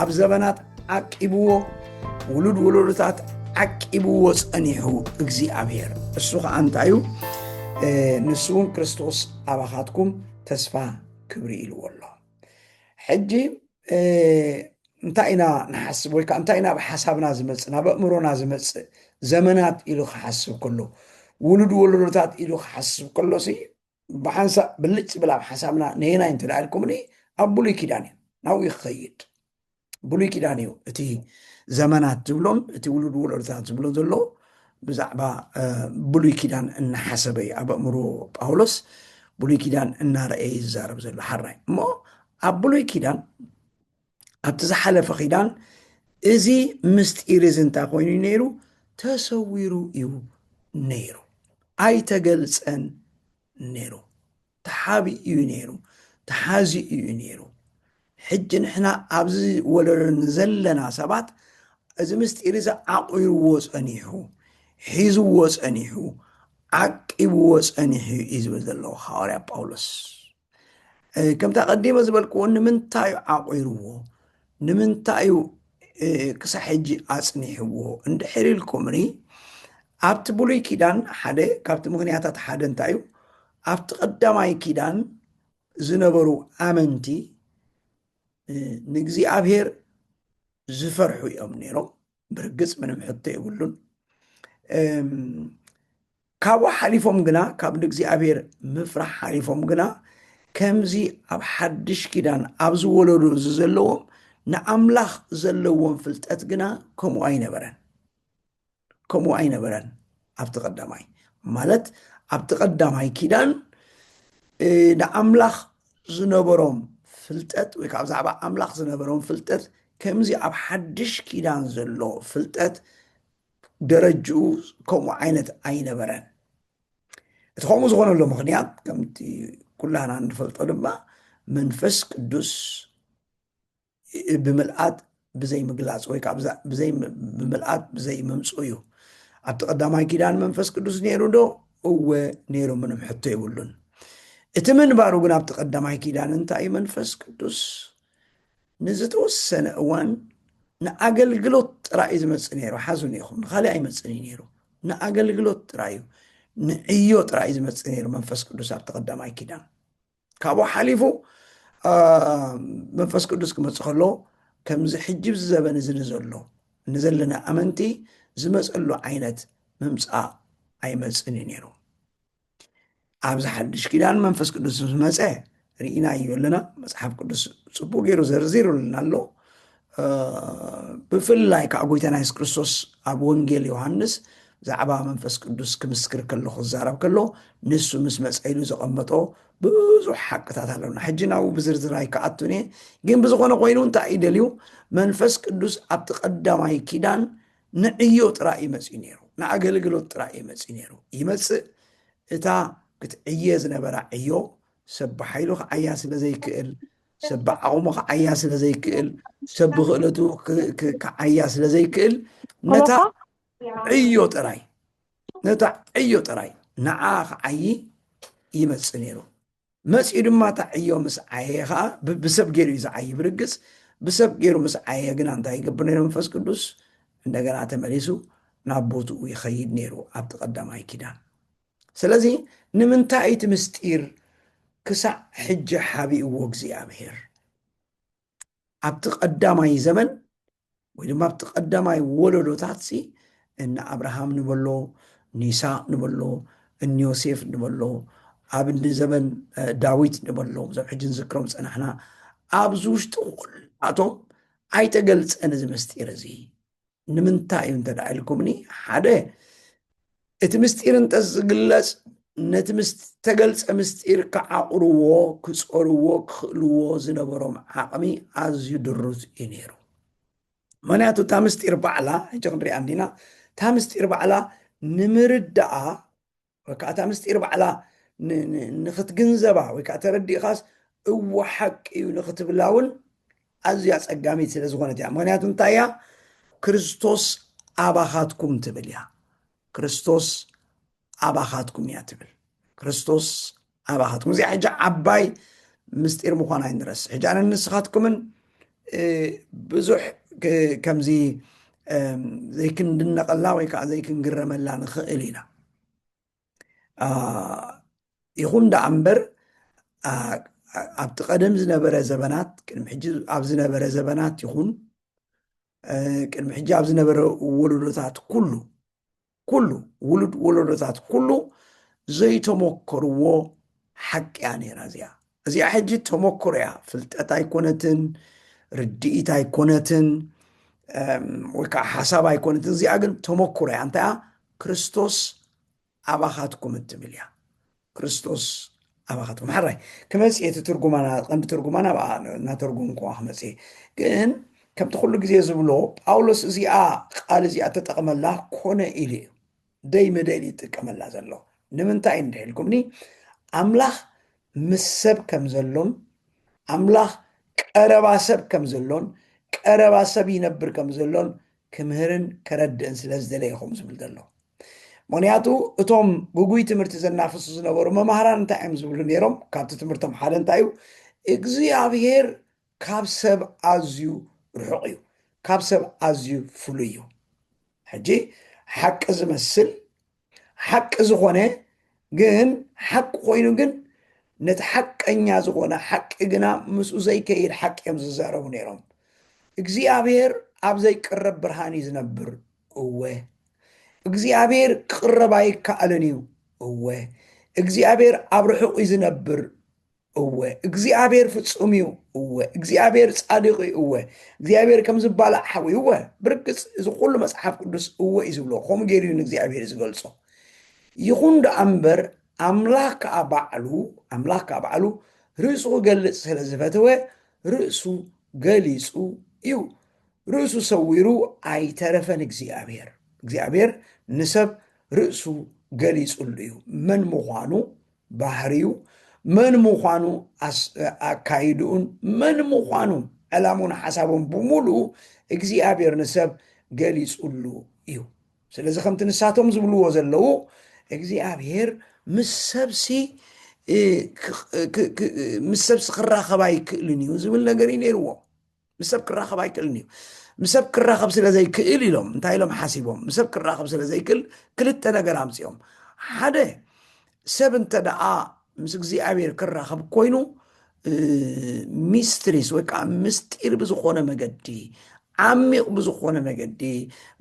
ኣብ ዘበናት ዓቂብዎ ውሉድ ውሉድታት ዓቂብዎ ጸኒሑ እግዚኣብሔር እሱ ከዓ እንታዩ ንሱ እውን ክርስቶስ ኣባኻትኩም ተስፋ ክብሪ ኢልዎ ኣሎ ሕጂ እንታይ ኢና ንሓስብ ወይ ከዓ እንታይ ናብ ሓሳብና ዝመፅእ ናብ ኣእምሮና ዝመፅእ ዘመናት ኢሉ ክሓስብ ከሎ ውሉድ ወለዶታት ኢሉ ክሓስብ ከሎ ሲ ብሓንሳእ ብልጭ ዝብል ኣብ ሓሳብና ነየናይ እንተ ኢልኩምኒ ኣብ ብሉይ ኪዳን እዩ ናብኡ ክኸይድ ብሉይ ኪዳን እዩ እቲ ዘመናት ዝብሎን እቲ ውሉድ ወለዶታት ዝብሎ ዘሎ ብዛዕባ ብሉይ ኪዳን እናሓሰበ እዩ ኣብ ኣእምሮ ጳውሎስ ብሉይ ኪዳን እናረእየ ይዛረብ ዘሎ ሓራይ እሞ ኣብ ብሉይ ኪዳን ኣብቲ ዝሓለፈ ኪዳን እዚ ምስጢር እዚ እንታይ ኮይኑ እዩ ነይሩ ተሰዊሩ እዩ ነይሩ ኣይተገልፀን ነይሩ ተሓቢ እዩ ነይሩ ተሓዚ እዩ ነይሩ ሕጂ ንሕና ኣብዚ ወለዶ ዘለና ሰባት እዚ ምስጢር እዚ ዓቑርዎ ፀኒሑ ሒዝዎ ፀኒሑ ዓቂብዎ ፀኒሑ እዩ ዝብል ዘለዎ ሃዋርያ ጳውሎስ ከምቲ ኣቐዲመ ዝበልክዎ ንምንታይ እዩ ዓቑርዎ ንምንታይ እዩ ክሳብ ሕጂ ኣጽኒሕዎ እንድሕር ኢልኩምኒ ኣብቲ ብሉይ ኪዳን ሓደ ካብቲ ምክንያታት ሓደ እንታይ እዩ ኣብቲ ቀዳማይ ኪዳን ዝነበሩ ኣመንቲ ንእግዚኣብሔር ዝፈርሑ እዮም ነይሮም ብርግፅ ምንም ሕቶ የብሉን ካብኡ ሓሊፎም ግና ካብ ንእግዚኣብሔር ምፍራሕ ሓሊፎም ግና ከምዚ ኣብ ሓድሽ ኪዳን ኣብዚ ወለዶ እዚ ዘለዎም ንኣምላኽ ዘለዎም ፍልጠት ግና ከምኡ ኣይነበረን ከምኡ ኣይነበረን ኣብቲ ቀዳማይ ማለት ኣብቲ ቀዳማይ ኪዳን ንኣምላኽ ዝነበሮም ፍልጠት ወይ ከዓ ብዛዕባ ኣምላኽ ዝነበሮም ፍልጠት ከምዚ ኣብ ሓድሽ ኪዳን ዘሎ ፍልጠት ደረጅኡ ከምኡ ዓይነት ኣይነበረን እቲ ከምኡ ዝኾነሉ ምክንያት ከምቲ ኩላና እንፈልጦ ድማ መንፈስ ቅዱስ ብምልኣት ብዘይ ምግላፅ ወይ ከዓ ብዘይ ብምልኣት ብዘይ ምምፅኡ እዩ ኣብቲ ቀዳማይ ኪዳን መንፈስ ቅዱስ ነይሩ ዶ እወ ነይሩ ምንም ሕቶ ይብሉን እቲ ምንባሩ ግን ኣብቲ ቀዳማይ ኪዳን እንታይ መንፈስ ቅዱስ ንዝተወሰነ እዋን ንኣገልግሎት ጥራይ እዩ ዝመፅእ ነይሩ ሓዙኒ ኢኹም ንካሊእ ኣይመፅን እዩ ነይሩ ንኣገልግሎት ጥራይ እዩ ንዕዮ ጥራይ እዩ ዝመፅእ ነይሩ መንፈስ ቅዱስ ኣብ ተቀዳማይ ኪዳን ካብኡ ሓሊፉ መንፈስ ቅዱስ ክመፅእ ከሎ ከምዚ ሕጂ ብዚ ዘበን እዚ ንዘሎ ንዘለና ኣመንቲ ዝመፀሉ ዓይነት ምምፃእ ኣይመፅን እዩ ነይሩ ኣብዚ ሓድሽ ኪዳን መንፈስ ቅዱስ ዝመፀ ርኢና እዩ ኣለና መፅሓፍ ቅዱስ ፅቡቅ ገይሩ ዘርዚሩልና ኣሎ ብፍላይ ከዓ ጎይታና የሱስ ክርስቶስ ኣብ ወንጌል ዮሃንስ ብዛዕባ መንፈስ ቅዱስ ክምስክር ከሎ ክዛረብ ከሎ ንሱ ምስ መፀኢሉ ዘቐመጦ ብዙሕ ሓቅታት ኣለና ሕጂ ናብኡ ብዝርዝር ኣይከኣቱን እየ ግን ብዝኾነ ኮይኑ እንታይ እዩ ደልዩ መንፈስ ቅዱስ ኣብቲ ቀዳማይ ኪዳን ንዕዮ ጥራይ እዩ መጺኡ ነይሩ፣ ንኣገልግሎት ጥራይ እዩ መጺኡ ነይሩ። ይመጽእ እታ ክትዕየ ዝነበራ ዕዮ ሰብ ብሓይሉ ክዓያ ስለ ዘይክእል፣ ሰብ ብዓቕሙ ክዓያ ስለ ዘይክእል፣ ሰብ ብክእለቱ ክዓያ ስለ ዘይክእል ነታ ዕዮ ጥራይ ነታ ዕዮ ጥራይ ንዓ ክዓዪ ይመጽእ ነይሩ መጺኡ ድማ እታ ዕዮ ምስ ዓየየ ኸኣ ብ- ብሰብ ገይሩ እዩ ዝዓዪ ብርግጽ ብሰብ ገይሩ ምስ ዓየየ ግና እንታይ ይገብር ነይሩ መንፈስ ቅዱስ እንደገና ተመሊሱ ናብ ቦትኡ ይኸይድ ነይሩ ኣብቲ ቀዳማይ ኪዳን ስለዚ ንምንታይ እቲ ምስጢር ክሳዕ ሕጂ ሓቢእዎ እግዚኣብሄር ኣብቲ ቀዳማይ ዘመን ወይ ድማ ኣብቲ ቀዳማይ ወለዶታትሲ እነ ኣብርሃም ንበሎ ንይስቅ ንበሎ እንዮሴፍ ንበሎ ኣብ እንዲ ዘበን ዳዊት ንበሎ ዞም ሕጂ ንዝክሮም ዝፀናሕና ኣብዚ ውሽጢ ኩላቶም ኣይተገልፀን እዚ ምስጢር እዚ ንምንታይ እዩ እንተ ኢልኩምኒ ሓደ እቲ ምስጢር እንተዝግለጽ ነቲ ምስ ተገልጸ ምስጢር ክዓቑርዎ ክጸርዎ ክኽእልዎ ዝነበሮም ዓቕሚ ኣዝዩ ድሩት እዩ ነይሩ ምክንያቱ እታ ምስጢር ባዕላ ሕጂ ክንሪኣ እንዲና እታ ምስጢር ባዕላ ንምርዳኣ ወይ ከዓ እታ ምስጢር ባዕላ ንክትግንዘባ ወይ ከዓ ተረዲእኻስ እዎ ሓቂ እዩ ንክትብላ እውን ኣዝያ ጸጋሚት ስለ ዝኾነት እያ ምክንያቱ እንታይ እያ ክርስቶስ ኣባኻትኩም ትብል እያ ክርስቶስ ኣባኻትኩም እያ ትብል ክርስቶስ ኣባኻትኩም እዚኣ ሕጂ ዓባይ ምስጢር ምዃን ኣይንረስ ሕጂ ኣነ ንስኻትኩምን ብዙሕ ከምዚ ዘይክንድነቐላ ወይ ከዓ ዘይክንግረመላ ንኽእል ኢና ይኹን ደኣ እምበር ኣብቲ ቀደም ዝነበረ ዘበናት ቅድሚ ሕጂ ኣብ ዝነበረ ዘበናት ይኹን ቅድሚ ሕጂ ኣብ ዝነበረ ወለዶታት ኩሉ ኩሉ ውሉድ ወለዶታት ኩሉ ዘይተሞከርዎ ሓቂያ ነይራ እዚኣ እዚኣ ሕጂ ተመኩሮ እያ ፍልጠት ኣይኮነትን ርድኢት ኣይኮነትን ወይ ከዓ ሓሳብ ኣይኮነትን እዚኣ ግን ተመኩሮ እያ እንታይ እያ ክርስቶስ ኣባኻትኩም እትብል እያ ክርስቶስ ኣባኻትኩም ሓራይ ክመፅ እቲ ትርጉማና ቀንዲ ትርጉማና ብኣ እናተርጉም ከዋ ክመፅ ግን ከምቲ ኩሉ ግዜ ዝብሎ ጳውሎስ እዚኣ ቃል እዚኣ ተጠቕመላ ኮነ ኢሉ እዩ ደይ መደይ ድዩ ዝጥቀመላ ዘሎ ንምንታይ እዩ እንድሒልኩምኒ ኣምላኽ ምስ ሰብ ከም ዘሎን ኣምላኽ ቀረባ ሰብ ከም ዘሎን ቀረባ ሰብ ይነብር ከም ዘሎን ክምህርን ከረድእን ስለ ዝደለየኹም ዝብል ዘሎ ምክንያቱ እቶም ጉጉይ ትምህርቲ ዘናፍሱ ዝነበሩ መማህራን እንታይ እዮም ዝብሉ ነይሮም ካብቲ ትምህርቶም ሓደ እንታይ እዩ እግዚኣብሄር ካብ ሰብ ኣዝዩ ርሑቕ እዩ። ካብ ሰብ ኣዝዩ ፍሉይ እዩ። ሕጂ ሓቂ ዝመስል ሓቂ ዝኾነ ግን ሓቂ ኮይኑ ግን ነቲ ሓቀኛ ዝኾነ ሓቂ ግና ምስኡ ዘይከይድ ሓቂ እዮም ዝዛረቡ ነይሮም። እግዚኣብሔር ኣብ ዘይቅረብ ብርሃን እዩ ዝነብር። እወ እግዚኣብሔር ክቕረብ ኣይከኣልን እዩ። እወ እግዚኣብሔር ኣብ ርሑቕ እዩ ዝነብር። እወ እግዚኣብሔር ፍጹም እዩ እወ እግዚኣብሔር ጻድቅ እዩ እወ እግዚኣብሔር ከም ዝባላዕ ሓዊ እወ ብርግጽ እዚ ኩሉ መጽሓፍ ቅዱስ እወ እዩ ዝብሎ ከምኡ ገይሩ እዩ ንእግዚኣብሔር ዝገልጾ ይኹን ደኣ እምበር ኣምላኽ ከዓ ባዕሉ ኣምላኽ ከዓ ባዕሉ ርእሱ ክገልጽ ስለ ዝፈተወ ርእሱ ገሊጹ እዩ ርእሱ ሰዊሩ ኣይተረፈን እግዚኣብሔር እግዚኣብሔር ንሰብ ርእሱ ገሊጹሉ እዩ መን ምዃኑ ባህሪኡ መን ምዃኑ ኣካይድኡን መን ምዃኑ ዕላሙን ሓሳቡን ብምሉኡ እግዚኣብሔር ንሰብ ገሊጹሉ እዩ ስለዚ ከምቲ ንሳቶም ዝብልዎ ዘለዉ እግዚኣብሔር ምስ ሰብሲ ምስ ሰብሲ ክራኸብ ኣይክእልን እዩ ዝብል ነገር እዩ ነይርዎ ምስ ሰብ ክራኸብ ኣይክእልን እዩ ምስ ሰብ ክራኸብ ስለ ዘይክእል ኢሎም እንታይ ኢሎም ሓሲቦም ምስ ሰብ ክራኸብ ስለ ዘይክእል ክልተ ነገር ኣምፅኦም ሓደ ሰብ እንተ ደኣ ምስ እግዚኣብሔር ክራኸብ ኮይኑ ሚስትሪስ ወይ ከዓ ምስጢር ብዝኾነ መገዲ ዓሚቕ ብዝኾነ መገዲ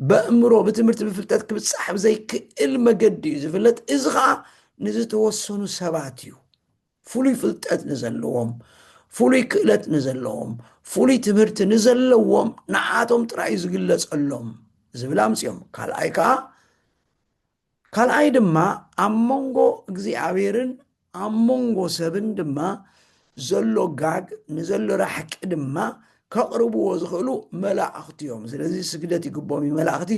በእምሮ ብትምህርቲ ብፍልጠት ክብፃሕ ብዘይክእል መገዲ እዩ ዝፍለጥ እዚ ከዓ ንዝተወሰኑ ሰባት እዩ ፍሉይ ፍልጠት ንዘለዎም ፍሉይ ክእለት ንዘለዎም ፍሉይ ትምህርቲ ንዘለዎም ንዓቶም ጥራይ ዝግለጸሎም ዝብል ኣምፅኦም ካልኣይ ከዓ ካልኣይ ድማ ኣብ መንጎ እግዚኣብሔርን ኣብ መንጎ ሰብን ድማ ዘሎ ጋግ ንዘሎ ራሕቂ ድማ ከቕርብዎ ዝኽእሉ መላእኽቲ እዮም ስለዚ ስግደት ይግቦም እዩ መላእኽቲ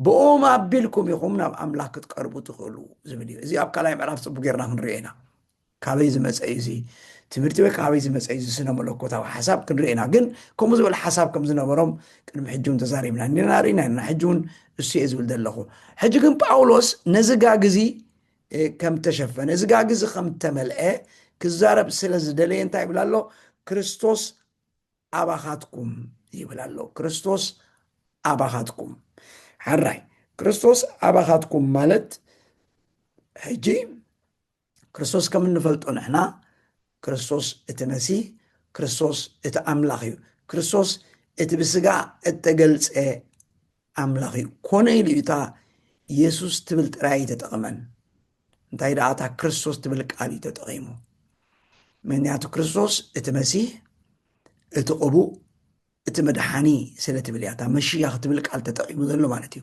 ብኦም ኣቢልኩም ኢኹም ናብ ኣምላኽ ክትቀርቡ ትኽእሉ ዝብል እዩ እዚ ኣብ ካልኣይ ምዕራፍ ፅቡቅ ጌርና ክንሪኦ ኢና ካበይ ዝመጸ እዩ እዚ ትምህርቲ ወይ ካበይ ዝመጸ እዩ እዚ ስነ መለኮታዊ ሓሳብ ክንርኢ ኢና ግን ከምኡ ዝበለ ሓሳብ ከም ዝነበሮም ቅድሚ ሕጂ እውን ተዛሪብና እኒና ርኢና ኣለና ሕጂ እውን እሱ እየ ዝብል ዘለኹ ሕጂ ግን ጳውሎስ ነዚ ጋግ እዚ ከም ተሸፈነ እዚ ጋግ እዚ ከም ተመልአ ክዛረብ ስለ ዝደለየ እንታይ ይብል ኣሎ ክርስቶስ ኣባኻትኩም ይብል ኣሎ ክርስቶስ ኣባኻትኩም ሕራይ ክርስቶስ ኣባኻትኩም ማለት ሕጂ ክርስቶስ ከም እንፈልጦ ንሕና ክርስቶስ እቲ መሲህ ክርስቶስ እቲ ኣምላኽ እዩ ክርስቶስ እቲ ብስጋ እተገልጸ ኣምላኽ እዩ ኮነ ኢሉ እዩ እታ የሱስ ትብል ጥራይ ተጠቕመን እንታይ ደኣ እታ ክርስቶስ ትብል ቃል እዩ ተጠቒሙ ምክንያቱ ክርስቶስ እቲ መሲህ እቲ ቅቡእ እቲ መድሓኒ ስለ ትብል እያ እታ መሺያኽ ትብል ቃል ተጠቒሙ ዘሎ ማለት እዩ።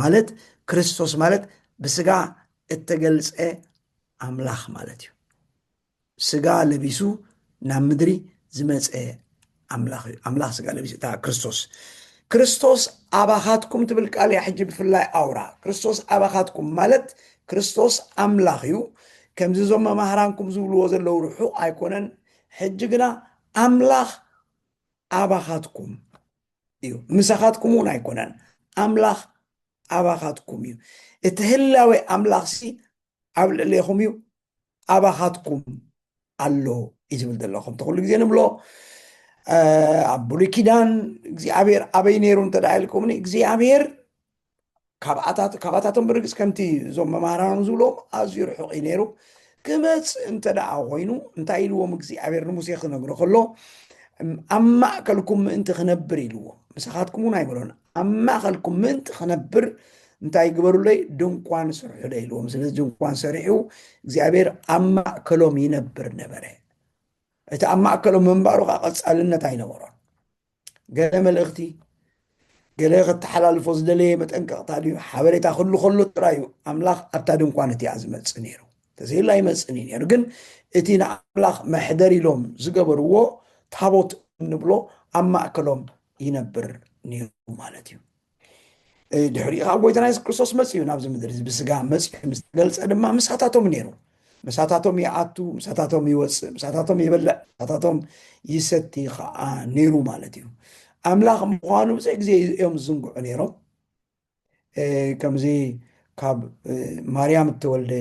ማለት ክርስቶስ ማለት ብስጋ እተገልጸ ኣምላኽ ማለት እዩ። ስጋ ለቢሱ ናብ ምድሪ ዝመጸ ኣምላኽ እዩ። ኣምላኽ ስጋ ለቢሱ እታ ክርስቶስ ክርስቶስ ኣባኻትኩም ትብል ቃል እያ። ሕጂ ብፍላይ ኣውራ ክርስቶስ ኣባኻትኩም ማለት ክርስቶስ ኣምላኽ እዩ። ከምዚ እዞም መማህራንኩም ዝብልዎ ዘለዉ ርሑቕ ኣይኮነን። ሕጂ ግና ኣምላኽ ኣባኻትኩም እዩ ምሳኻትኩም እውን ኣይኮነን ኣምላኽ ኣባኻትኩም እዩ እቲ ህላዌ ኣምላኽ ሲ ኣብ ልዕሌኹም እዩ ኣባኻትኩም ኣሎ እዩ ዝብል ዘሎ ከምቲ ኩሉ ግዜ ንብሎ ኣብ ብሉይ ኪዳን እግዚኣብሔር ኣበይ ነይሩ እንተ ኢልኩምኒ እግዚኣብሔር ካብኣታት ካባታቶም ብርግጽ ከምቲ እዞም መማህራኖም ዝብሎም ኣዝዩ ርሑቕ እዩ ነይሩ ክመጽእ እንተ ደኣ ኮይኑ እንታይ ኢልዎም እግዚኣብሔር ንሙሴ ክነግሮ ከሎ ኣብ ማእከልኩም ምእንቲ ክነብር ኢልዎ ምሳኻትኩም እውን ኣይበሎን ኣብ ማእከልኩም ምእንቲ ክነብር እንታይ ግበሩለይ ድንኳን ስርሑለ ኢልዎም ስለዚ ድንኳን ሰሪሑ እግዚኣብሔር ኣብ ማእከሎም ይነብር ነበረ እቲ ኣብ ማእከሎም ምንባሩ ከዓ ቀጻልነት ኣይነበሮን ገለ መልእኽቲ፣ ገለ ከተሓላልፎ ዝደለየ መጠንቀቕታ ድዩ? ሓበሬታ ክህሉ ከሎ ጥራይ እዩ ኣምላኽ ኣብታ ድንኳን እቲኣ ዝመጽእ ነይሩ። ተዘይሉ ኣይመጽእን እዩ ነይሩ። ግን እቲ ንኣምላኽ መሕደር ኢሎም ዝገበርዎ ታቦት እንብሎ ኣብ ማእከሎም ይነብር ነይሩ ማለት እዩ። ድሕሪኡ ከዓ ጎይታና የሱስ ክርስቶስ መፅኡ ናብዚ ምድሪ እዚ ብስጋ መፅኡ ምስ ተገልፀ ድማ ምሳታቶም ነይሩ ምሳታቶም ይኣቱ ምሳታቶም ይወፅእ ምሳታቶም ይበልዕ ምሳታቶም ይሰቲ ከዓ ነይሩ ማለት እዩ ኣምላኽ ምዃኑ ብዘይ ግዜ እዮም ዝዝንግዑ ነይሮም ከምዚ ካብ ማርያም እተወልደ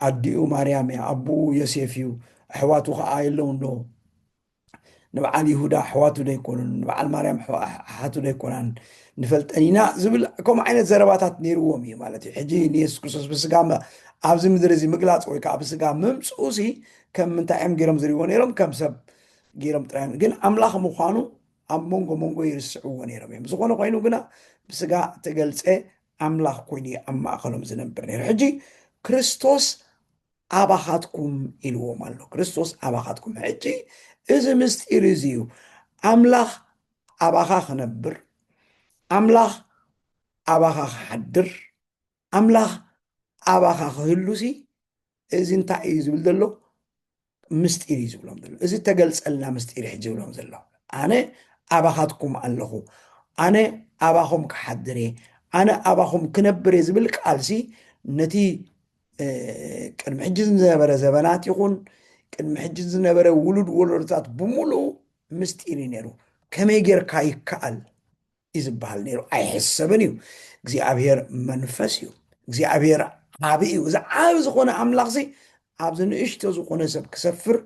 ኣዲኡ ማርያም እያ ኣቦኡ ዮሴፍ እዩ ኣሕዋቱ ከዓ የለውን ዶ ንበዓል ይሁዳ ኣሕዋቱ ዶ ኣይኮኑን ንበዓል ማርያም ኣሓቱ ዶ ኣይኮናን ንፈልጠን ኢና ዝብል ከምኡ ዓይነት ዘረባታት ነይርዎም እዩ ማለት እዩ ሕጂ ንየሱስ ክርስቶስ ብስጋ ኣብዚ ምድሪ እዚ ምግላፅ ወይ ከዓ ብስጋ ምምፅኡ ሲ ከም ምንታይ እዮም ገይሮም ዝሪዎ ነይሮም ከም ሰብ ገይሮም ጥራይ ግን ኣምላኽ ምዃኑ ኣብ መንጎ መንጎ ይርስዕዎ ነይሮም እዮም ዝኾነ ኮይኑ ግና ብስጋ ተገልፀ ኣምላኽ ኮይኑ ኣብ ማእኸሎም ዝነብር ነይሩ ሕጂ ክርስቶስ ኣባኻትኩም ኢልዎም ኣሎ ክርስቶስ ኣባኻትኩም ሕጂ እዚ ምስጢር እዚ እዩ ኣምላኽ ኣባኻ ክነብር ኣምላኽ ኣባኻ ክሓድር ኣምላኽ ኣባኻ ክህሉ ሲ እዚ እንታይ እዩ ዝብል ዘሎ ምስጢር እዩ ዝብሎም ዘሎ እዚ ተገልፀልና ምስጢር ሕጂ ዝብሎም ዘሎ ኣነ ኣባኻትኩም ኣለኹ ኣነ ኣባኹም ክሓድር እየ ኣነ ኣባኹም ክነብር እየ ዝብል ቃልሲ ነቲ ቅድሚ ሕጂ ዝነበረ ዘበናት ይኹን ቅድሚ ሕጂ ዝነበረ ውሉድ ወለዶታት ብምሉኡ ምስጢር እዩ ነይሩ ከመይ ጌርካ ይከኣል እዩ ዝበሃል ነይሩ ኣይሕሰብን እዩ እግዚኣብሔር መንፈስ እዩ እግዚኣብሔር ዓብ እዩ እዚ ዓብ ዝኾነ ኣምላኽ ዚ ኣብዚ ንእሽቶ ዝኾነ ሰብ ክሰፍር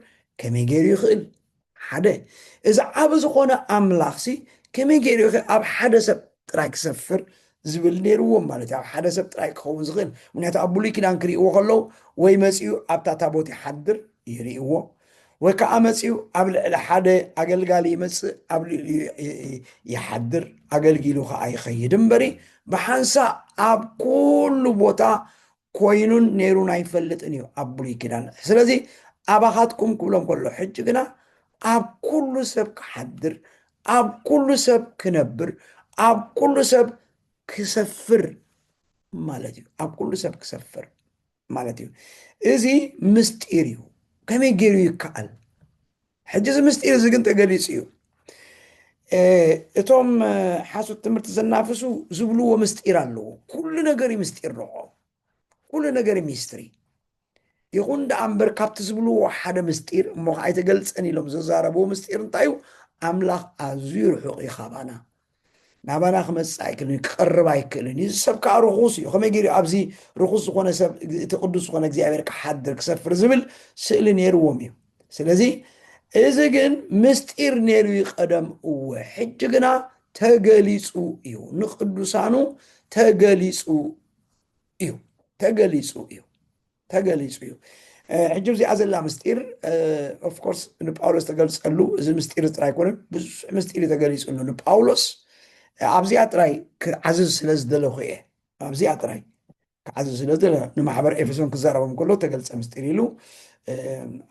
ከመይ ገይሩ ይኽእል ሓደ እዚ ዓቢ ዝኾነ ኣምላኽሲ ከመይ ገይሩ ኢኸ ኣብ ሓደ ሰብ ጥራይ ክሰፍር ዝብል ነይርዎም ማለት እዩ ኣብ ሓደ ሰብ ጥራይ ክኸውን ዝኽእል ምክንያቱ ኣብ ብሉይ ኪዳን ክርእይዎ ከለዉ ወይ መጺኡ ኣብታ ታቦት ይሓድር ይርእይዎ ወይ ከዓ መጺኡ ኣብ ልዕሊ ሓደ ኣገልጋሊ ይመጽእ ኣብ ልዕሊኡ ይሓድር ኣገልጊሉ ከዓ ይኸይድ እምበሪ ብሓንሳእ ኣብ ኩሉ ቦታ ኮይኑን ነይሩን ኣይፈልጥን እዩ ኣብ ብሉይ ኪዳን ስለዚ ኣባኻትኩም ክብሎ ከሎ ሕጂ ግና ኣብ ኩሉ ሰብ ክሓድር ኣብ ኩሉ ሰብ ክነብር ኣብ ኩሉ ሰብ ክሰፍር ማለት እዩ ኣብ ኩሉ ሰብ ክሰፍር ማለት እዩ እዚ ምስጢር እዩ ከመይ ገይሩ ይከኣል ሕጂ እዚ ምስጢር እዚ ግን ተገሊጹ እዩ እቶም ሓሶት ትምህርቲ ዘናፍሱ ዝብልዎ ምስጢር ኣለዎ ኩሉ ነገር እዩ ምስጢር ንዖ ኩሉ ነገር ሚስትሪ ይኹን ደኣ እምበር ካብቲ ዝብልዎ ሓደ ምስጢር እሞ ከዓ ኣይተገልፀን ኢሎም ዘዛረብዎ ምስጢር እንታይ እዩ ኣምላኽ ኣዝዩ ርሑቕ እዩ ካባና ናባና ክመጽእ ኣይክእልን እዩ፣ ክቐርብ ኣይክእልን እዩ፣ እዚ ሰብ ከዓ ርኹስ እዩ፣ ከመይ ገይሩ ኣብዚ ርኹስ ዝኾነ ሰብ እቲ ቅዱስ ዝኾነ እግዚኣብሔር ክሓድር ክሰፍር ዝብል ስእሊ ነይርዎም እዩ። ስለዚ እዚ ግን ምስጢር ነይሩ እዩ ቀደም እወ፣ ሕጂ ግና ተገሊጹ እዩ፣ ንቅዱሳኑ ተገሊጹ እዩ፣ ተገሊጹ እዩ። ተገሊጹ እዩ ሕጂ እዚኣ ዘላ ምስጢር ኦፍኮርስ ንጳውሎስ ተገልፀሉ እዚ ምስጢር ጥራይ ኮነ ብዙሕ ምስጢር እዩ ተገሊፅሉ ንጳውሎስ ኣብዚኣ ጥራይ ክዓዝዝ ስለ ዝደለኹ እየ ኣብዚኣ ጥራይ ክዓዝዝ ስለ ዝደለ ንማሕበር ኤፌሶን ክዛረቦም ከሎ ተገልፀ ምስጢር ኢሉ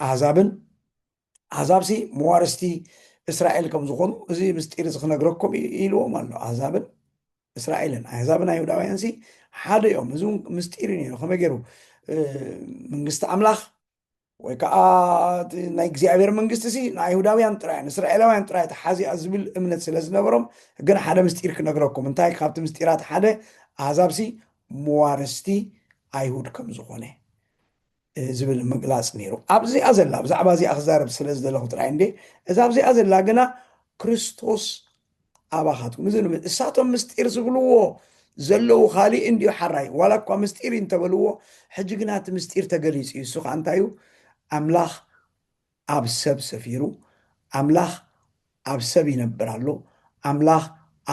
ኣህዛብን ኣህዛብሲ መዋርስቲ እስራኤል ከም ዝኾኑ እዚ ምስጢር እዚ ክነግረኩም እዩ ኢልዎም ኣሎ ኣህዛብን እስራኤልን ኣህዛብን ኣይሁዳውያን ሲ ሓደ እዮም እዚ እውን ምስጢር እዩ ነይሩ ከመይ ገይሩ መንግስቲ ኣምላኽ ወይ ከዓ ናይ እግዚኣብሔር መንግስቲ ሲ ንኣይሁዳውያን ጥራይ ንእስራኤላውያን ጥራይ ተሓዚኣ ዝብል እምነት ስለ ዝነበሮም ግን ሓደ ምስጢር ክነግረኩም እንታይ ካብቲ ምስጢራት ሓደ ኣህዛብሲ መዋርስቲ ኣይሁድ ከም ዝኾነ ዝብል ምግላጽ ነይሩ። ኣብዚኣ ዘላ፣ ብዛዕባ እዚኣ ክዛረብ ስለ ዝደለኹ ጥራይ እንድየ፣ እዛ ኣብዚኣ ዘላ ግና ክርስቶስ ኣባኻትኩም እዚ ንብል እሳቶም ምስጢር ዝብልዎ ዘለዉ ካልእ እንድዩ ሓራይ ዋላ እኳ ምስጢር እዩ እንተበልዎ ሕጂ ግና እቲ ምስጢር ተገሊጹ እዩ እሱ ከዓ እንታይ እዩ ኣምላኽ ኣብ ሰብ ሰፊሩ፣ ኣምላኽ ኣብ ሰብ ይነብር ኣሎ፣ ኣምላኽ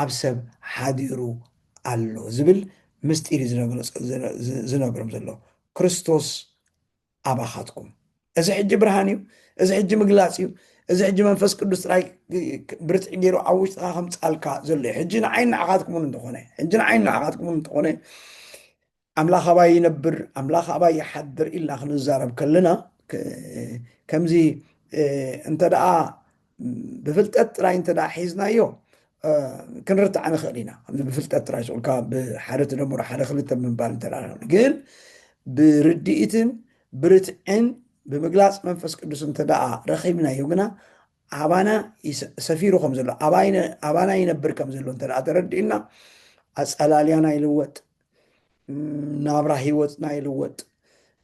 ኣብ ሰብ ሓዲሩ ኣሎ ዝብል ምስጢር እዩ ዝነግሮም ዘሎ፣ ክርስቶስ ኣባኻትኩም። እዚ ሕጂ ብርሃን እዩ፣ እዚ ሕጂ ምግላጽ እዩ፣ እዚ ሕጂ መንፈስ ቅዱስ ጥራይ ብርትዒ ገይሩ ኣብ ውሽጥኻ ከምጻልካ ዘሎ እዩ። ሕጂ ንዓይን ንዓኻትኩምን እንተኾነ ሕጂ ንዓይን ንዓኻትኩምን እንተኾነ ኣምላኽ ኣባይ ይነብር ኣምላኽ ኣባይ ይሓድር ኢልና ክንዛረብ ከለና ከምዚ እንተደኣ ብፍልጠት ጥራይ እንተ ሒዝናዮ ክንርትዓ ንኽእል ኢና ብፍልጠት ጥራይ ስኡልካ ብሓደ ትደምሮ ሓደ ክልተ ምባል እንተ ግን ብርድኢትን ብርትዕን ብምግላፅ መንፈስ ቅዱስ እንተ ረኺብናዮ ግና ኣባና ሰፊሩ ከም ዘሎ ኣባና ይነብር ከም ዘሎ እንተ ተረዲእና ኣፀላልያና ይልወጥ ናብራ ህይወትና ይልወጥ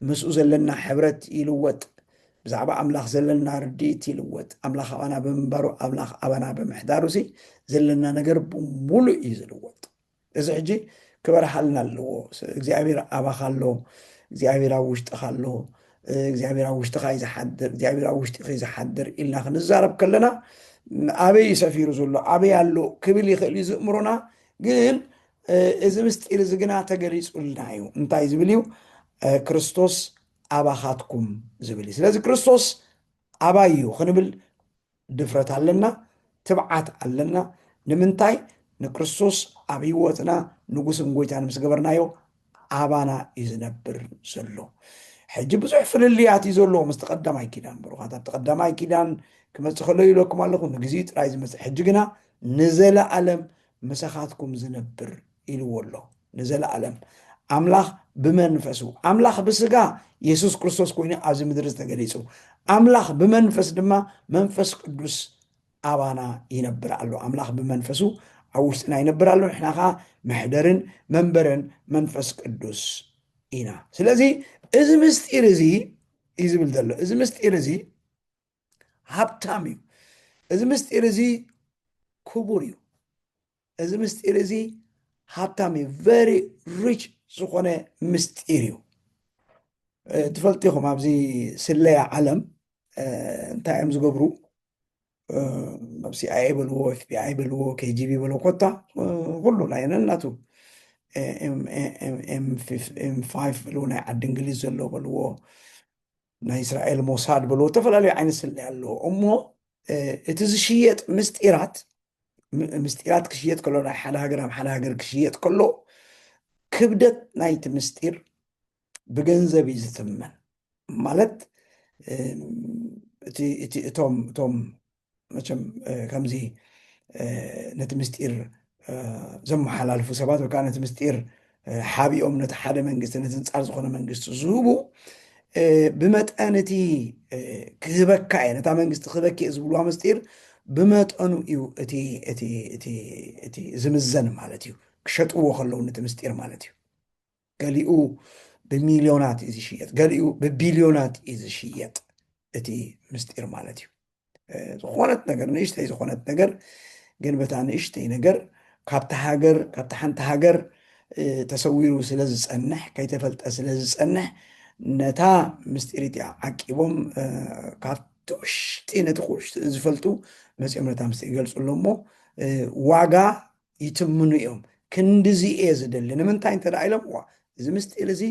ምስኡ ዘለና ሕብረት ይልወጥ ብዛዕባ ኣምላኽ ዘለና ርድኢት ይልወጥ ኣምላኽ ኣባና ብምንባሩ ኣምላኽ ኣባና ብምሕዳሩ ሲ ዘለና ነገር ብምሉእ እዩ ዝልወጥ እዚ ሕጂ ክበርሃልና ኣለዎ እግዚኣብሔር ኣባኻ ኣሎ እግዚኣብሔር ኣብ ውሽጥኻ ኣሎ እግዚኣብሔር ኣብ ውሽጥኻ እዩ ዝሓድር እግዚኣብሔር ኣብ ውሽጢ ዝሓድር ኢልና ክንዛረብ ከለና ኣበይ ሰፊሩ ዘሎ ኣበይ ኣሎ ክብል ይኽእል እዩ ዝእምሮና ግን እዚ ምስጢር እዚ ግና ተገሊጹልና እዩ እንታይ ዝብል እዩ ክርስቶስ ኣባኻትኩም ዝብል እዩ ስለዚ ክርስቶስ ኣባይ እዩ ክንብል ድፍረት ኣለና ትብዓት ኣለና ንምንታይ ንክርስቶስ ኣብ ህይወትና ንጉስን ጎይታን ምስ ገበርናዮ ኣባና እዩ ዝነብር ዘሎ ሕጂ ብዙሕ ፍልልያት እዩ ዘለዎ ምስ ተቀዳማይ ኪዳን ብሩኻት ኣብ ተቀዳማይ ኪዳን ክመፅእ ከሎ ይብለኩም ኣለኹ ንግዜ ጥራይ ዝመፅእ ሕጂ ግና ንዘለኣለም ምሳኻትኩም ዝነብር ኢልዎ ኣሎ ንዘለኣለም ኣምላኽ ብመንፈሱ ኣምላኽ ብስጋ የሱስ ክርስቶስ ኮይኑ ኣብዚ ምድሪ ዝተገሊጹ ኣምላኽ ብመንፈስ ድማ መንፈስ ቅዱስ ኣባና ይነብር ኣሎ ኣምላኽ ብመንፈሱ ኣብ ውሽጥና ይነብር ኣሎ ንሕና ከዓ መሕደርን መንበርን መንፈስ ቅዱስ ኢና ስለዚ እዚ ምስጢር እዚ እዩ ዝብል ዘሎ እዚ ምስጢር እዚ ሃብታም እዩ እዚ ምስጢር እዚ ክቡር እዩ እዚ ምስጢር እዚ ሃብታም እዩ ቨሪ ሪች ዝኾነ ምስጢር እዩ ትፈልጡ ኢኹም ኣብዚ ስለያ ዓለም እንታይ እዮም ዝገብሩ ኣብ ሲኣይኤ በልዎ ኤፍቢኣይ በልዎ ኬጂቢ በልዎ ኮታ ኩሉ ናይ ነናቱ ኤም ፋይቭ በልዎ ናይ ዓዲ እንግሊዝ ዘሎ በልዎ ናይ እስራኤል ሞሳድ ብሎ ዝተፈላለዩ ዓይነት ስለያ ኣለዎ እሞ እቲ ዝሽየጥ ምስጢራት ምስጢራት ክሽየጥ ከሎ ናይ ሓደ ሃገር ኣብ ሓደ ሃገር ክሽየጥ ከሎ ክብደት ናይቲ ምስጢር ብገንዘብ እዩ ዝትመን ማለት እቶም መቸም ከምዚ ነቲ ምስጢር ዘመሓላልፉ ሰባት ወይ ከዓ ነቲ ምስጢር ሓቢኦም ነቲ ሓደ መንግስቲ ነቲ ንፃር ዝኾነ መንግስቲ ዝህቡ ብመጠን እቲ ክህበካ እየ ነታ መንግስቲ ክህበኪ እየ ዝብልዋ ምስጢር ብመጠኑ እዩ እቲ ዝምዘን ማለት እዩ ክሸጥዎ ከለዉ ነቲ ምስጢር ማለት እዩ ገሊኡ ብሚልዮናት እዩ ዝሽየጥ፣ ገሊኡ ብቢልዮናት እዩ ዝሽየጥ። እቲ ምስጢር ማለት እዩ ዝኾነት ነገር ንእሽተይ ዝኾነት ነገር ግን በታ ንእሽተይ ነገር ካብቲ ሃገር ካብቲ ሓንቲ ሃገር ተሰዊሩ ስለ ዝፀንሕ ከይተፈልጠ ስለ ዝፀንሕ ነታ ምስጢር እቲኣ ዓቂቦም ካብቲ ውሽጢ ነቲ ውሽጢ ዝፈልጡ መፂኦም ነታ ምስጢር ይገልፁ ኣሎ እሞ ዋጋ ይትምኑ እዮም። ክንድዚ እየ ዝደሊ። ንምንታይ እንተ ደኣ ኢሎም፣ ዋእ! እዚ ምስጢር እዚ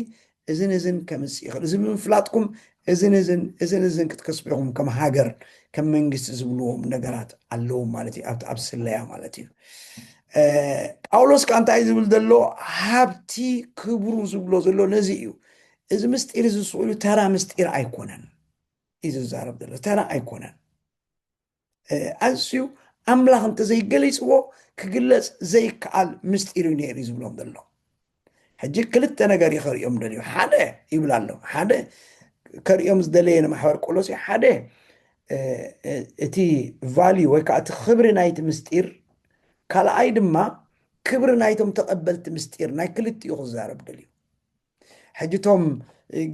እዝን እዝን ከምጽእ ይኽእል፣ እዚ ብምፍላጥኩም እዝን እዝን እዝን እዝን ክትከስቡ ኢኹም፣ ከም ሃገር፣ ከም መንግስቲ ዝብልዎም ነገራት ኣለዎም ማለት እዩ፣ ኣብቲ ኣብ ስለያ ማለት እዩ። ጳውሎስ ከኣ እንታይ እዩ ዝብል ዘሎ? ሃብቲ ክብሩ ዝብሎ ዘሎ ነዚ እዩ። እዚ ምስጢር እዚ ስኢሉ ተራ ምስጢር ኣይኮነን እዩ ዝዛረብ ዘሎ፣ ተራ ኣይኮነን። ኣዝዩ ኣምላኽ እንተዘይገሊፅዎ ክግለፅ ዘይከኣል ምስጢር እዩ ነይሩ ዝብሎም ዘሎ ሕጂ ክልተ ነገር እዩ ከርእዮም ደልዩ ሓደ ይብል ኣሎ ሓደ ከርእዮም ዝደለየ ንማሕበር ቆሎስ እዩ ሓደ እቲ ቫልዩ ወይ ከዓ እቲ ክብሪ ናይቲ ምስጢር ካልኣይ ድማ ክብሪ ናይቶም ተቐበልቲ ምስጢር ናይ ክልቲኡ ክዛረብ ደልዩ ሕጂ እቶም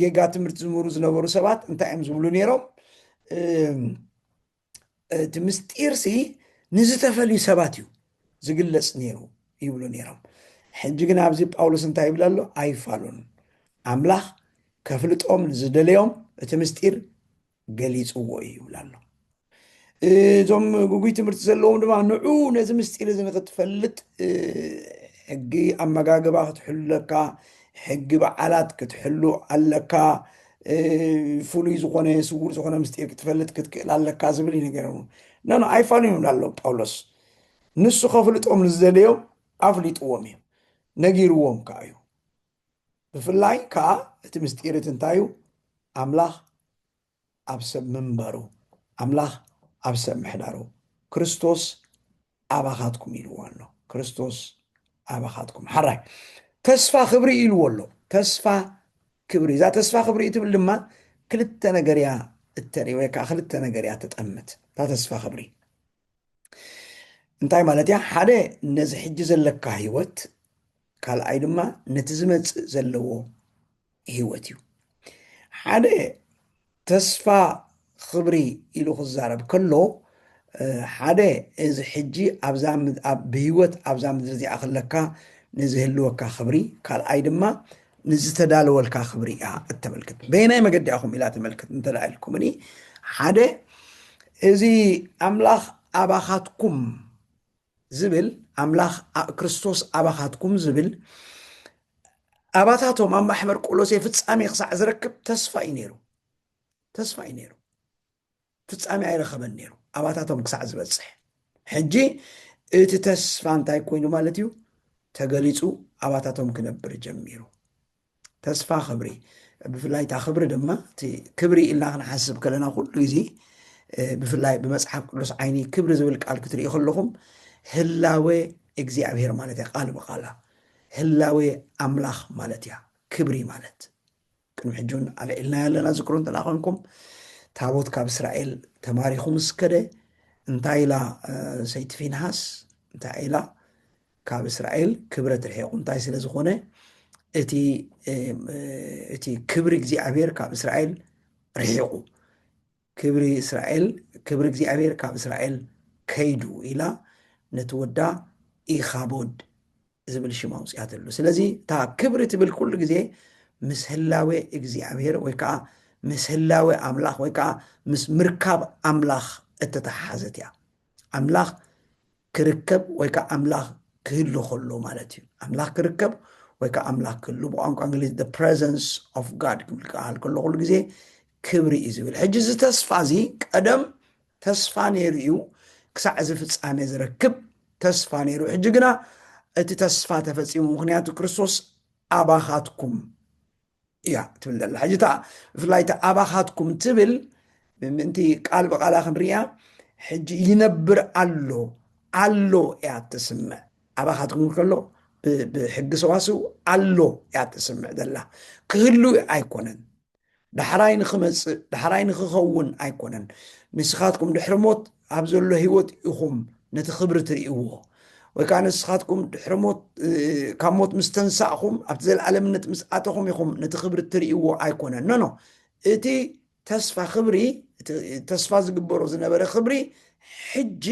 ጌጋ ትምህርቲ ዝምህሩ ዝነበሩ ሰባት እንታይ እዮም ዝብሉ ነይሮም እቲ ምስጢርሲ ንዝተፈልዩ ሰባት እዩ ዝግለፅ ነይሩ ይብሉ ነይሮም ሕጂ ግን ኣብዚ ጳውሎስ እንታይ ይብል ኣሎ ኣይፋሉን ኣምላኽ ከፍልጦም ንዝደለዮም እቲ ምስጢር ገሊጽዎ እዩ ይብል ኣሎ እዞም ጉጉይ ትምህርቲ ዘለዎም ድማ ንዑ ነዚ ምስጢር እዚ ንክትፈልጥ ሕጊ ኣመጋግባ ክትሕሉ ኣለካ ሕጊ በዓላት ክትሕሉ ኣለካ ፍሉይ ዝኾነ ስውር ዝኾነ ምስጢር ክትፈልጥ ክትክእል ኣለካ ዝብል እዩ ነገር ነኖ ኣይፋሉን ይብላ ኣሎ ጳውሎስ ንሱ ከፍልጦም ንዝደለዮም ኣፍሊጥዎም እዩ ነጊርዎም ከዓ እዩ ብፍላይ ከዓ እቲ ምስጢር እቲ እንታይ እዩ ኣምላኽ ኣብ ሰብ ምንበሩ ኣምላኽ ኣብ ሰብ ምሕዳሩ ክርስቶስ ኣባኻትኩም ኢልዎ ኣሎ ክርስቶስ ኣባኻትኩም ሓራይ ተስፋ ክብሪ ኢልዎ ኣሎ ተስፋ ክብሪ እዛ ተስፋ ክብሪ እትብል ድማ ክልተ ነገር እያ እተርኢ ወይ ከዓ ክልተ ነገር እያ ተጠምት እታ ተስፋ ክብሪ እንታይ ማለት እያ ሓደ ነዚ ሕጂ ዘለካ ህይወት ካልኣይ ድማ ነቲ ዝመፅእ ዘለዎ ህይወት እዩ ሓደ ተስፋ ክብሪ ኢሉ ክዛረብ ከሎ ሓደ እዚ ሕጂ ብህይወት ኣብዛ ምድሪ እዚኣ ከለካ ንዝህልወካ ክብሪ ካልኣይ ድማ ንዝተዳለወልካ ክብሪ እያ እተመልክት። በየናይ መገዲ ኢኹም ኢላ ተመልክት እንተ ኢልኩምኒ፣ ሓደ እዚ ኣምላኽ ኣባኻትኩም ዝብል ኣምላኽ ክርስቶስ ኣባኻትኩም ዝብል ኣባታቶም ኣብ ማሕበር ቆሎሴ ፍጻሜ ክሳዕ ዝረክብ ተስፋ እዩ ነይሩ ተስፋ እዩ ነይሩ ፍጻሜ ኣይረኸበን ነይሩ ኣባታቶም ክሳዕ ዝበጽሕ። ሕጂ እቲ ተስፋ እንታይ ኮይኑ ማለት እዩ ተገሊጹ ኣባታቶም ክነብር ጀሚሩ። ተስፋ ክብሪ ብፍላይ እታ ክብሪ ድማ እቲ ክብሪ ኢልና ክንሓስብ ከለና ኩሉ ግዜ ብፍላይ ብመፅሓፍ ቅዱስ ዓይኒ ክብሪ ዝብል ቃል ክትርኢ ከለኹም ህላወ እግዚኣብሄር ማለት እያ ቃል ብቃላ ህላወ ኣምላኽ ማለት እያ ክብሪ ማለት ቅድሚ ሕጂ እውን ኣልዒልናዮ ኣለና ዝክሮ እንተ ኮንኩም ታቦት ካብ እስራኤል ተማሪኹ ምስ ከደ እንታይ ኢላ ሰይቲ ፊንሃስ እንታይ ኢላ ካብ እስራኤል ክብረት ርሒቑ እንታይ ስለ ዝኾነ እቲ እቲ ክብሪ እግዚኣብሔር ካብ እስራኤል ርሒቑ ክብሪ እስራኤል ክብሪ እግዚኣብሔር ካብ እስራኤል ከይዱ ኢላ ነቲ ወዳ ኢኻቦድ ዝብል ሽም ኣውፅኣትሉ ስለዚ እታ ክብሪ ትብል ኩሉ ግዜ ምስ ህላዌ እግዚኣብሔር ወይ ከዓ ምስ ህላዌ ኣምላኽ ወይ ከዓ ምስ ምርካብ ኣምላኽ እተተሓሓዘት እያ ኣምላኽ ክርከብ ወይ ከኣ ኣምላኽ ክህሉ ከሎ ማለት እዩ። ኣምላኽ ክርከብ ወይ ከኣ ኣምላኽ ክህሉ ብቋንቋ እንግሊዝ the presence of God ክብል ክበሃል ከሎ ኩሉ ግዜ ክብሪ እዩ ዝብል። ሕጂ እዚ ተስፋ እዚ ቀደም ተስፋ ነይሩ እዩ ክሳዕ እዚ ፍጻሜ ዝረክብ ተስፋ ነይሩ። ሕጂ ግና እቲ ተስፋ ተፈጺሙ፣ ምክንያቱ ክርስቶስ ኣባኻትኩም እያ ትብል ዘላ ሕጂ እታ ብፍላይ እቲ ኣባኻትኩም ትብል ምእንቲ ቃል ብቓላ ክንርያ ሕጂ ይነብር ኣሎ ኣሎ እያ ትስምዕ ኣባኻትኩም ከሎ ብሕጊ ሰዋስው ኣሎ እያ ትስምዕ ዘላ ክህሉ ኣይኮነን ዳሕራይ ንክመፅእ ዳሕራይ ንክኸውን ኣይኮነን ንስኻትኩም ድሕሪ ሞት ኣብ ዘሎ ህይወት ኢኹም ነቲ ክብሪ ትርእይዎ ወይ ከዓ ንስኻትኩም ድሕሪ ሞት ካብ ሞት ምስ ተንሳእኹም ኣብቲ ዘለኣለምነት ምስ ኣተኹም ኢኹም ነቲ ክብሪ ትርእይዎ ኣይኮነን ኖኖ እቲ ተስፋ ክብሪ ተስፋ ዝግበሮ ዝነበረ ክብሪ ሕጂ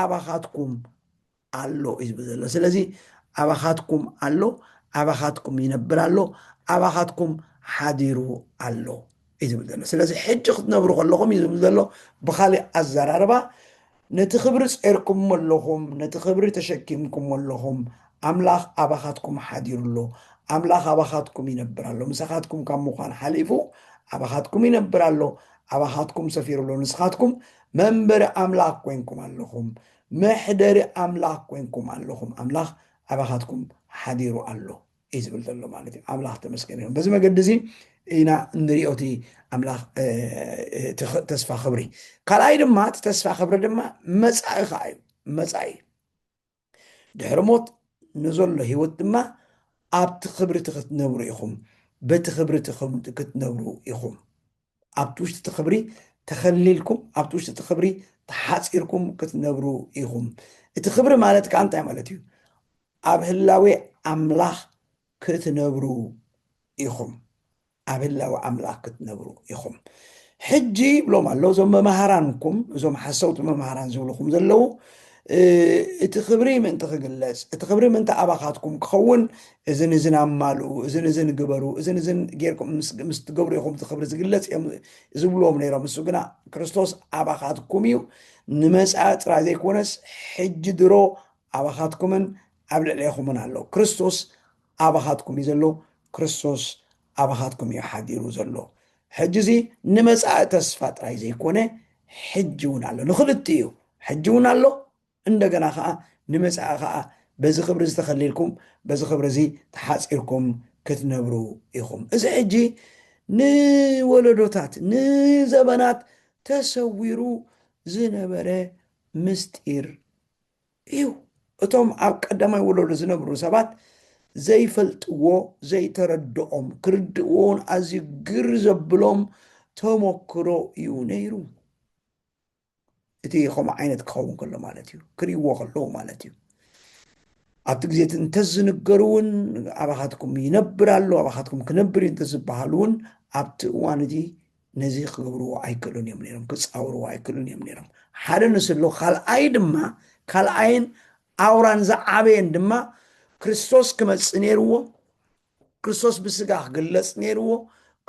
ኣባኻትኩም ኣሎ እዩ ዝብል ዘሎ ስለዚ ኣባኻትኩም ኣሎ ኣባኻትኩም ይነብር ኣሎ ኣባኻትኩም ሓዲሩ ኣሎ እዩ ዝብል ዘሎ ስለዚ ሕጂ ክትነብሩ ከለኹም እዩ ዝብል ዘሎ ብካሊእ ኣዘራርባ ነቲ ክብሪ ፀርኩሞ ኣለኹም ነቲ ክብሪ ተሸኪምኩሞ ኣለኹም ኣምላኽ ኣባኻትኩም ሓዲሩ ኣሎ ኣምላኽ ኣባኻትኩም ይነብር ኣሎ ምሳኻትኩም ካብ ምዃን ሓሊፉ ኣባኻትኩም ይነብር ኣሎ ኣባኻትኩም ሰፊሩ ኣሎ ንስኻትኩም መንበሪ ኣምላኽ ኮንኩም ኣለኹም መሕደሪ ኣምላኽ ኮይንኩም ኣለኹም፣ ኣምላኽ ኣባኻትኩም ሓዲሩ ኣሎ እዩ ዝብል ዘሎ ማለት እዩ። ኣምላኽ ተመስገን ይኹን። በዚ መገዲ እዚ ኢና እንሪኦ እቲ ኣምላኽ ተስፋ ክብሪ። ካልኣይ ድማ እቲ ተስፋ ክብሪ ድማ መፃኢ ከዓ እዩ። መፃኢ ድሕሪ ሞት ንዘሎ ህይወት ድማ ኣብቲ ክብሪ እቲ ክትነብሩ ኢኹም፣ በቲ ክብሪ እቲ ክትነብሩ ኢኹም። ኣብቲ ውሽጢ እቲ ክብሪ ተኸሊልኩም ኣብቲ ውሽጢ እቲ ክብሪ ተሓፂርኩም ክትነብሩ ኢኹም። እቲ ክብሪ ማለት ከዓ እንታይ ማለት እዩ? ኣብ ህላዌ ኣምላኽ ክትነብሩ ኢኹም ኣብ ህላዊ ኣምላኽ ክትነብሩ ኢኹም ሕጂ ይብሎም ኣሎ እዞም መማሃራንኩም እዞም ሓሰውቲ መማሃራን ዝብልኹም ዘለዉ እቲ ኽብሪ ምእንቲ ኽግለጽ፣ እቲ ኽብሪ ምእንቲ ኣባኻትኩም ኪኸውን፣ እዝን እዝን ኣማልኡ፣ እዝን እዝን ግበሩ፣ እዝን እዝን ጌርኩም ምስ ትገብሩ ኢኹም እቲ ኽብሪ ዚግለጽ እዮም ዚብልዎም ነይሮም። ንሱ ግና፣ ክርስቶስ ኣባኻትኩም እዩ፣ ንመጻኢ ጥራይ ዘይኰነስ፣ ሕጂ ድሮ ኣባኻትኩምን ኣብ ልዕሌኹምን ኣሎ። ክርስቶስ ኣባኻትኩም እዩ ዘሎ፣ ክርስቶስ ኣባኻትኩም እዩ ሓዲሩ ዘሎ ሕጂ እዚ ንመጻኢ ተስፋ ጥራይ ዘይኮነ ሕጂ እውን ኣሎ ንኽልቲኡ ሕጂ እውን ኣሎ እንደገና ከኣ ንመጻኢ ከኣ በዚ ክብሪ እዚ ተኸሊልኩም በዚ ክብሪ እዚ ተሓጺርኩም ክትነብሩ ኢኹም እዚ ሕጂ ንወለዶታት ንዘበናት ተሰዊሩ ዝነበረ ምስጢር እዩ። እቶም ኣብ ቀዳማይ ወለዶ ዝነብሩ ሰባት ዘይፈልጥዎ፣ ዘይተረድኦም፣ ክርድእዎ ውን ኣዝዩ ግር ዘብሎም ተሞክሮ እዩ ነይሩ። እቲ ከምኡ ዓይነት ክኸውን ከሎ ማለት እዩ፣ ክርእይዎ ከለዉ ማለት እዩ። ኣብቲ ግዜ እቲ እንተዝንገሩ እውን ኣባኻትኩም ይነብር ኣሎ፣ ኣባኻትኩም ክነብር እዩ እንተዝበሃሉ እውን ኣብቲ እዋን እቲ ነዚ ክገብርዎ ኣይክእሉን እዮም ነይሮም፣ ክጻወርዎ ኣይክእሉን እዮም ነይሮም። ሓደ ንስሉ ካልኣይ ድማ ካልኣይን ኣውራን ዝዓበየን ድማ ክርስቶስ ክመጽእ ነይርዎ፣ ክርስቶስ ብስጋ ክግለጽ ነይርዎ፣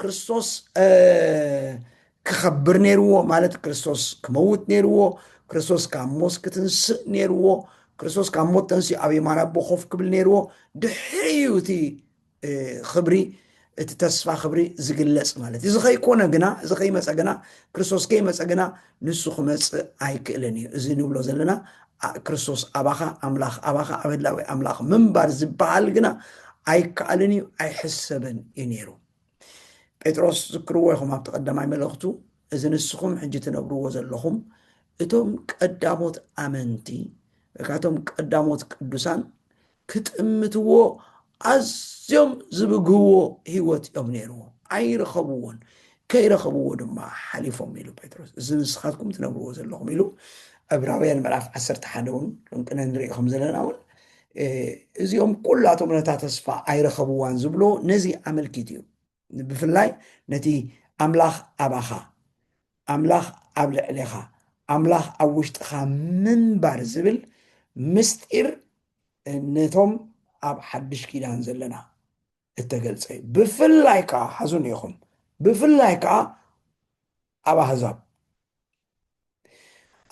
ክርስቶስ ክኸብር ነይርዎ ማለት ክርስቶስ ክመውት ነይርዎ፣ ክርስቶስ ካብ ሞት ክትንስእ ነይርዎ፣ ክርስቶስ ካብ ሞት ተንስኡ ኣብ የማን ኣቦ ኮፍ ክብል ነይርዎ። ድሕሪ እዩ እቲ ኽብሪ እቲ ተስፋ ኽብሪ ዝግለጽ ማለት እዩ እዚ ከይኮነ ግና እዚ ከይመፀ ግና ክርስቶስ ከይመፀ ግና ንሱ ክመፅእ ኣይክእልን እዩ እዚ ንብሎ ዘለና ክርስቶስ ኣባኻ ኣምላኽ ኣባኻ ኣብ ህላዊ ኣምላኽ ምንባር ዝበሃል ግና ኣይከኣልን እዩ ኣይሕሰብን እዩ ነይሩ ጴጥሮስ ዝክርዎ ይኹም ኣብቲ ቀዳማይ መለኽቱ እዚ ንስኹም ሕጂ ትነብርዎ ዘለኹም እቶም ቀዳሞት ኣመንቲ ካቶም ቀዳሞት ቅዱሳን ክጥምትዎ ኣዝዮም ዝብግህዎ ህይወት እዮም ነይርዎም፣ ኣይረኸብዎን፣ ከይረኸብዎ ድማ ሓሊፎም ኢሉ ጴጥሮስ። እዚ ንስኻትኩም ትነብርዎ ዘለኹም ኢሉ ዕብራውያን ምዕራፍ ዓሰርተ ሓደ እውን ቅነ ንርኢ ከም ዘለና እውን እዚኦም ኩላቶም ነታ ተስፋ ኣይረኸብዋን ዝብሎ ነዚ ኣመልኪቱ እዩ። ብፍላይ ነቲ ኣምላኽ ኣባኻ ኣምላኽ ኣብ ልዕሌኻ ኣምላኽ ኣብ ውሽጥኻ ምንባር ዝብል ምስጢር ነቶም ኣብ ሓድሽ ኪዳን ዘለና እተገልጸ እዩ ብፍላይ ከዓ ሓዙን ኢኹም ብፍላይ ከዓ ኣብ ኣህዛብ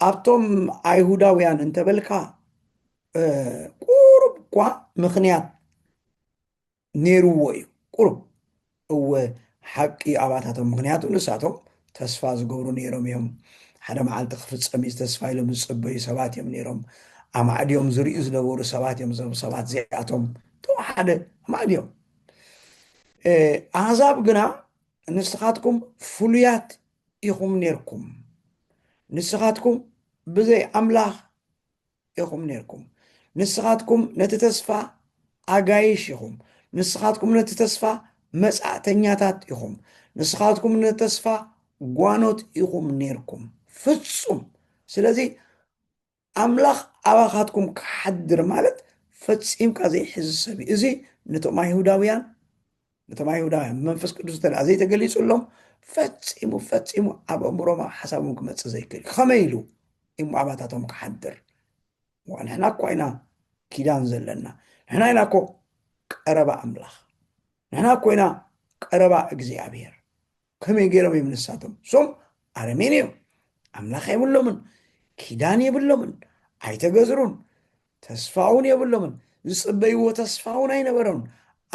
ኣብቶም ኣይሁዳውያን እንተበልካ ቁሩብ እኳ ምክንያት ነይርዎ እዩ ቁሩብ እወ ሓቂ ኣባታቶም ምክንያቱ ንሳቶም ተስፋ ዝገብሩ ነይሮም እዮም ሓደ መዓልቲ ክፍፀም እዩ ተስፋ ኢሎም ዝፅበዩ ሰባት እዮም ነይሮም ኣማዕድዮም ዝርዩ ዝነበሩ ሰባት እዮም እዞም ሰባት እዚኣቶም ተወሓደ ኣማዕድዮም ኣህዛብ ግና ንስኻትኩም ፍሉያት ኢኹም ነርኩም ንስኻትኩም ብዘይ ኣምላኽ ኢኹም ኔርኩም። ንስኻትኩም ነቲ ተስፋ ኣጋይሽ ኢኹም። ንስኻትኩም ነቲ ተስፋ መጻእተኛታት ኢኹም። ንስኻትኩም ነቲ ተስፋ ጓኖት ኢኹም ኔርኩም ፍጹም። ስለዚ ኣምላኽ ኣባኻትኩም ክሓድር ማለት ፈጺምካ ዘይሕዚ ሰብ እዩ። እዚ ነቶም ኣይሁዳውያን ነቶም ኣይሁዳውያን መንፈስ ቅዱስ እተ ዘይተገሊፁሎም ፈፂሙ ፈፂሙ ኣብ ኣእምሮማ ሓሳቦም ክመፅእ ዘይክእል ከመይ ኢሉ እሞ ኣባታቶም ክሓድር ንሕና እኳ ኢና ኪዳን ዘለና ንሕና ኢና እኮ ቀረባ ኣምላኽ ንሕና እኮ ኢና ቀረባ እግዚኣብሔር ከመይ ገይሮም እዮም ንሳቶም ሶም ኣረሜን እዮም ኣምላኽ የብሎምን ኪዳን የብሎምን ኣይተገዝሩን ተስፋውን የብሎምን ዝፅበይዎ ተስፋውን ኣይነበሮምን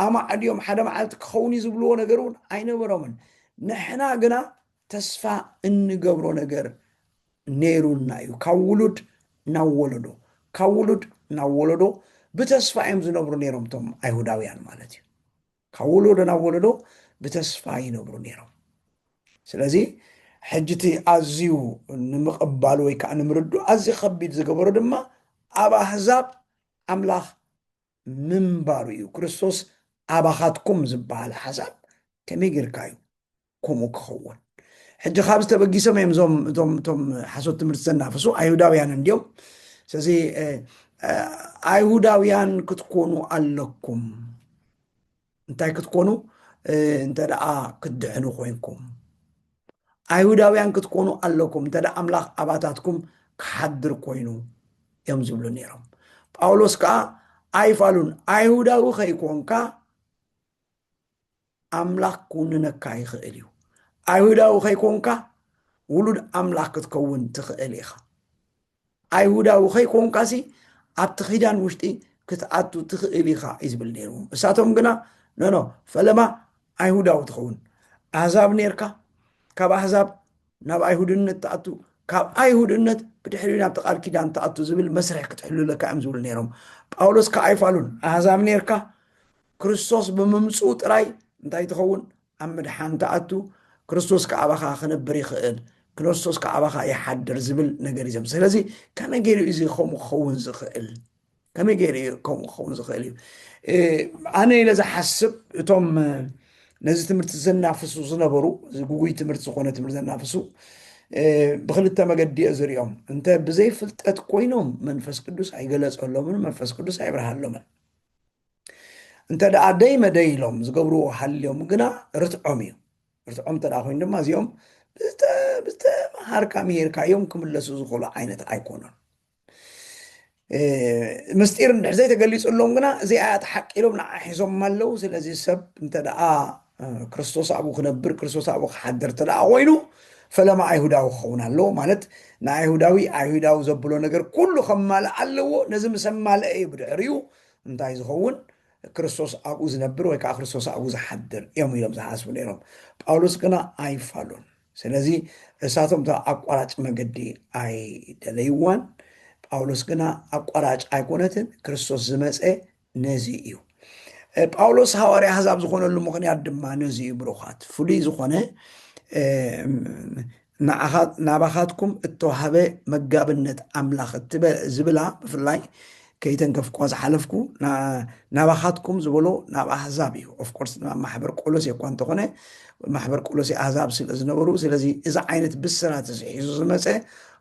ኣማዕድዮም ሓደ መዓልቲ ክኸውን እዩ ዝብልዎ ነገር እውን ኣይነበሮምን ንሕና ግና ተስፋ እንገብሮ ነገር ነይሩና እዩ ካብ ውሉድ ናብ ወለዶ ካብ ውሉድ ናብ ወለዶ ብተስፋ እዮም ዝነብሩ ነይሮም እቶም ኣይሁዳውያን ማለት እዩ ካብ ወሎዶ ናብ ወሎዶ ብተስፋ ይነብሩ ነይሮም ስለዚ ሕጂ እቲ ኣዝዩ ንምቕባሉ ወይ ከዓ ንምርዱ ኣዝዩ ከቢድ ዝገበሮ ድማ ኣብ ኣህዛብ ኣምላኽ ምንባሩ እዩ ክርስቶስ ኣባኻትኩም ዝበሃል ሓሳብ ከመይ ጌርካ እዩ ከምኡ ክኸውን ሕጂ ካብዚ ተበጊሶም እዮም እዞም እቶም እቶም ሓሶት ትምህርቲ ዘናፍሱ ኣይሁዳውያን እንዲዮም ስለዚ ኣይሁዳውያን ክትኮኑ ኣለኩም እንታይ ክትኮኑ እንተ ደኣ ክትድሕኑ ኮንኩም ኣይሁዳውያን ክትኮኑ ኣለኩም እንተ ኣምላኽ ኣባታትኩም ክሓድር ኮይኑ እዮም ዝብሉ ነይሮም ጳውሎስ ከዓ ኣይፋሉን ኣይሁዳዊ ከይኮንካ ኣምላኽ ክውንነካ ይኽእል እዩ። ኣይሁዳዊ ከይኮንካ ውሉድ ኣምላኽ ክትከውን ትኽእል ኢኻ። ኣይሁዳዊ ከይኮንካሲ ኣብቲ ኪዳን ውሽጢ ክትኣቱ ትኽእል ኢኻ እዩ ዝብል ነይርዎም። እሳቶም ግና ነኖ ፈለማ ኣይሁዳዊ ትኸውን ኣህዛብ ነርካ ካብ ኣህዛብ ናብ ኣይሁድነት ትኣቱ ካብ ኣይሁድነት ብድሕሪ ናብቲ ቃል ኪዳን ትኣቱ ዝብል መስርሕ ክትሕልለካ እዮም ዝብሉ ነይሮም ጳውሎስ ከዓ ኣይፋሉን ኣህዛብ ነርካ ክርስቶስ ብምምጽኡ ጥራይ እንታይ ትኸውን? ኣብ ምድሓን ትኣቱ፣ ክርስቶስ ከኣ ኣባኻ ክነብር ይኽእል፣ ክኖስቶስ ከኣ ኣባኻ ይሓድር ዝብል ነገር እዩ ዘም ስለዚ ከመይ ገይሩ እዩ እዚ ከምኡ ክኸውን ዝኽእል? ከመይ ገይሩ እዩ ከምኡ ክኸውን ዝኽእል እዩ? እ፣ ኣነ ኢለ ዝሓስብ እቶም እ፣ ነዚ ትምህርቲ ዘናፍሱ ዝነበሩ እዚ ጉጉይ ትምህርቲ ዝኾነ ትምህርቲ ዘናፍሱ እ፣ ብክልተ መገዲ እየ ዝሪኦም እንተ ብዘይ ፍልጠት ኮይኖም መንፈስ ቅዱስ ኣይገለጸሎምን መንፈስ ቅዱስ ኣይብርሃሎምን እንተ ደኣ ደይ መደይ ኢሎም ዝገብርዎ ሃልዮም ግና ርትዖም እዩ ርትዖም እንተ ኮይኑ ድማ እዚኦም ብዝተምሃርካ ምሂርካ እዮም ክምለሱ ዝኽእሉ ዓይነት ኣይኮኑን ምስጢር እንድሕ ዘይተገሊፅሎም ግና እዚኣ እያ ተሓቂ ኢሎም ንዓ ሒዞም ኣለዉ ስለዚ ሰብ እንተ ደኣ ክርስቶስ ኣብኡ ክነብር ክርስቶስ ኣብኡ ክሓድር እንተ ደኣ ኮይኑ ፈለማ ኣይሁዳዊ ክኸውን ኣለዎ ማለት ንኣይሁዳዊ ኣይሁዳዊ ዘብሎ ነገር ኩሉ ከማልእ ኣለዎ ነዚ ምስ ኣማልአ እዩ ብድሕሪኡ እንታይ ዝኸውን ክርስቶስ ኣብኡ ዝነብር ወይ ከዓ ክርስቶስ ኣብኡ ዝሓድር እዮም ኢሎም ዝሓስቡ ነይሮም ጳውሎስ ግና ኣይፋሉን ስለዚ እሳቶም እታ ኣቋራጭ መገዲ ኣይደለይዋን ጳውሎስ ግና ኣቋራጭ ኣይኮነትን ክርስቶስ ዝመፀ ነዚ እዩ ጳውሎስ ሃዋርያ ኣሕዛብ ዝኾነሉ ምኽንያት ድማ ነዚ እዩ ብሩኻት ፍሉይ ዝኾነ ናባኻትኩም እተዋህበ መጋብነት ኣምላኽ ዝብላ ብፍላይ ከይተንከፍኩዋ ዝሓለፍኩ ናባኻትኩም ዝበሎ ናብ ኣህዛብ እዩ ኦፍኮርስ ናብ ማሕበር ቆሎሴ እኳ እንተኾነ ማሕበር ቆሎሴ ኣህዛብ ስለ ዝነበሩ ስለዚ እዚ ዓይነት ብስራት እዚ ሒዙ ዝመፀ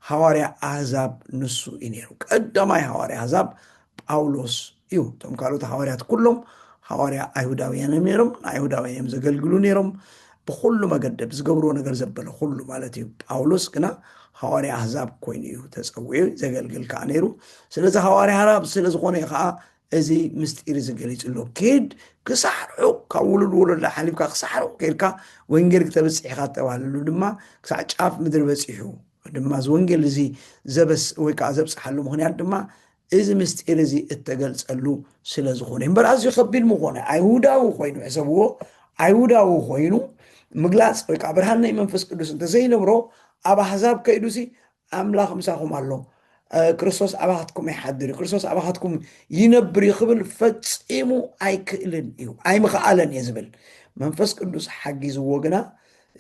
ሃዋርያ ኣህዛብ ንሱ እዩ ነይሩ ቀዳማይ ሃዋርያ ኣህዛብ ጳውሎስ እዩ እቶም ካልኦት ሃዋርያት ኩሎም ሃዋርያ ኣይሁዳውያን እዮም ነይሮም ንኣይሁዳውያን እዮም ዘገልግሉ ነይሮም ብኩሉ መገደብ ዝገብርዎ ነገር ዘበለ ኩሉ ማለት እዩ ጳውሎስ ግና ሃዋርያ ኣህዛብ ኮይኑ እዩ ተፀዊዑ ዘገልግል ከዓ ነይሩ ስለዚ ሃዋርያ ሃራብ ስለዝኾነ እዩ ከዓ እዚ ምስጢር እዚ ገሊፁ ኣሎ ኬድ ክሳዕ ርሑቕ ካብ ውሉድ ወለዶ ሓሊፍካ ክሳዕ ርሑቕ ኬድካ ወንጌል ክተብፅሕ ኢኻ ተባህለሉ ድማ ክሳዕ ጫፍ ምድሪ በፂሑ ድማ እዚ ወንጌል እዚ ዘበስ ወይ ከዓ ዘብፅሓሉ ምክንያት ድማ እዚ ምስጢር እዚ እተገልፀሉ ስለ ዝኾነ እዩ እምበር ኣዝዩ ከቢድ ምኾነ ኣይሁዳዊ ኮይኑ ሕሰብዎ ኣይሁዳዊ ኮይኑ ምግላፅ ወይ ከዓ ብርሃን ናይ መንፈስ ቅዱስ እንተዘይነብሮ ኣብ ኣሕዛብ ከይዱ ሲ ኣምላኽ ምሳኹም ኣሎ እ፣ ክርስቶስ ኣባኻትኩም ይሓድር እዩ ክርስቶስ ኣባኻትኩም ይነብር እዩ ክብል ፈፂሙ ኣይክእልን እዩ ኣይምኽኣለን እየ ዝብል መንፈስ ቅዱስ ሓጊዝዎ ግና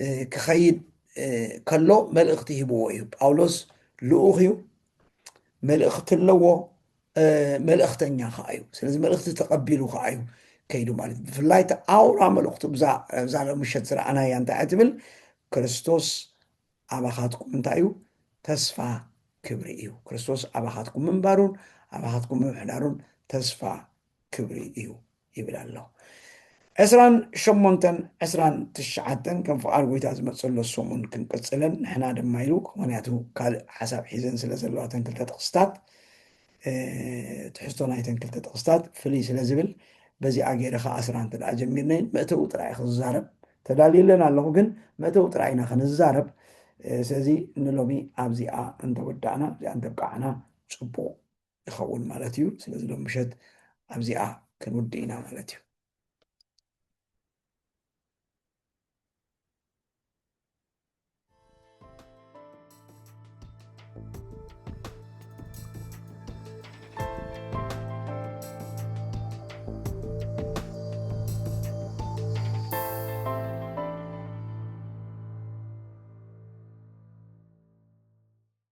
እ፣ ክኸይድ ከሎ መልእኽቲ ሂብዎ እዩ ጳውሎስ ልኡኽ እዩ መልእኽቲ ኣለዎ መልእኽተኛ ከዓ እዩ ስለዚ መልእኽቲ ተቐቢሉ ከዓ እዩ ከይዱ ማለት እዩ ብፍላይ እቲ ኣውራ መልእኽቱ ብዛ ምሸት ዝረኣናያ እንታይ እያ ትብል ክርስቶስ ኣባኻትኩም እንታይ እዩ ተስፋ ክብሪ እዩ ክርስቶስ ኣባኻትኩም ምንባሩን ኣባኻትኩም ምምሕዳሩን ተስፋ ክብሪ እዩ ይብል ኣሎ። ዕስራን ሸሞንተን ዕስራን ትሽዓተን ከም ፍቓድ ጐይታ ዝመጽእሎ ሰሙን ክንቅጽለን ንሕና ድማ ኢሉ ምክንያቱ ካልእ ሓሳብ ሒዘን ስለ ዘለዋ እተን ክልተ ጥቕስታት ትሕዝቶ ናይተን ክልተ ጥቕስታት ፍልይ ስለ ዝብል በዚኣ ገይረ ከዓ ዕስራ እንተ ደኣ ጀሚርነይ መእተዊ ጥራይ ክዛረብ ተዳልየለን ኣለኹ ግን መእተዊ ጥራይ ኢና ክንዛረብ ስለዚ ንሎሚ ኣብዚኣ እንተወዳእና እዚኣ እንተብቃዕና ጽቡቕ ይኸውን ማለት እዩ ስለዚ ሎም ምሸት ኣብዚኣ ክንውድ ኢና ማለት እዩ